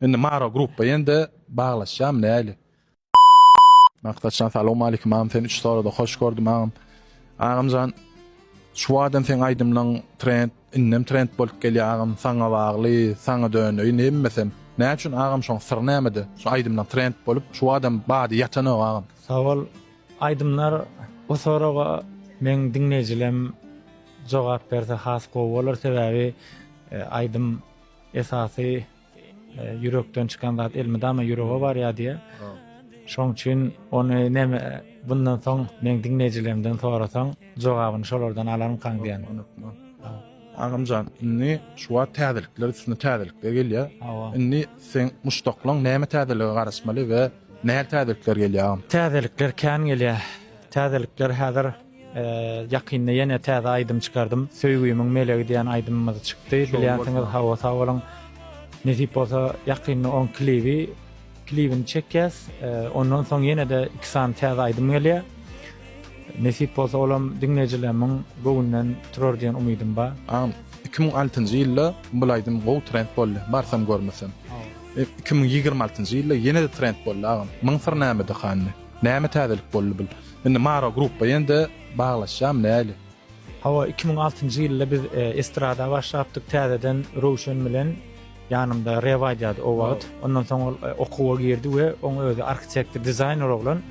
Indi Maro gruppa ýende baglaşýamy näli. Maksatjan salowmalikim agam seni üç sorada hoş gördüm agam. Agamjan şu waden seň aýdymlaň trend indem trend bolup gelýä agam saňa bagly saňa döneýin hemmesem nä üçin agam şoň syry nämede şu aýdymlaň trend bolup şu wadem bady ýatanok agam. Sag bol aýdymlar bu soraga meň diňleýjilem jogap berse has gowy bolar sebäbi aýdym esasy Ýürekden çykan zat elmydama ýürege barýar diýýär. Şoň üçin ony näme bundan soň meň diňleýjilerimden sorasaň, jogabyny şolardan alarmykaň diýýän. Agamjan, indi şu wagt täzelikler üstüne täzelikler gelýär. Indi seň muşdaklaň näme täzelige garaşmaly we nähili täzelikler gelýär agam? Täzelikler kän gelýär. Täzelikler häzir Ýakynda ýene täze aýdym çykardym. Söýgümiň melegi diýen aýdymymyz çykdy. Bilýänsiňiz, hawa sag boluň. Nesip bolsa ýakynda oň klibi klibini çekýäs. Ondan soň ýene-de iki sany täze aýdym gelýär. Nesip bolsa olam diňleýjilerimiň göwünden turar diýen umydym bar. Agam, iki müň altynjy ýylda bul aýdym gowy trend boldy, barsam görmesem. Iki müň ýigrimi altynjy ýylda ýene-de trend boldy agam. Myň syry nämede hany? Näme täzelik boldy bul. Indi Maro gruppa ýende baglaşýamy näli. Hawa iki müň altynjy ýylda biz estrada başlapdyk täzeden Röwşen bilen ýanymda Rew aýdýardy o wagt ondan soň ol okuwa girdi we oň özi arhitektor dizaýner oglan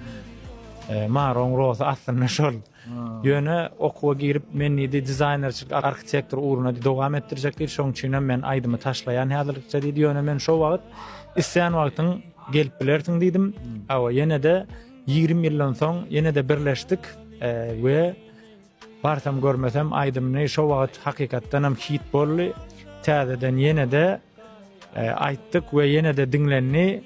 Maroň rohy aslynda şol. Ýöne okuwa girip men diýdi dizaýnerçilik arhitektor ugruna dowam etdirjek diýdi şoň üçinem men aýdymy taşlaýan häzirlikçe diýdi ýöne men şo wagt islän wagtyň gelip bilersiň diýdim hawa ýenede ýigrimi ýyldan soň ýenede birleşdik we barsam görmesem aýdymyny şo wagt hakykatdanam hit boldy täzeden ýenede aýtdyk we ýenede diňlendi.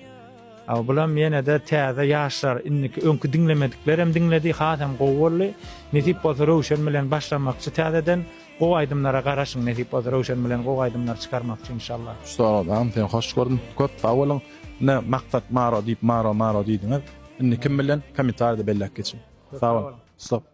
Aw bulam ýenede täze ýaşlar indiki öňki diňlemediklerem diňledi hasam gowy boldy nesip bolsa Röwşen bilen başlamakçy täzeden gowy aýdymlara garaşyň nesip bolsa Röwşen bilen gowy aýdymlar çykarmakçy inşallah. Soradan sen hoş gördüm köp sag boluň ine maksat maro diýip maro maro diýdiňiz indi kim bilen komentarýada belläp geçiň sag boluň stop.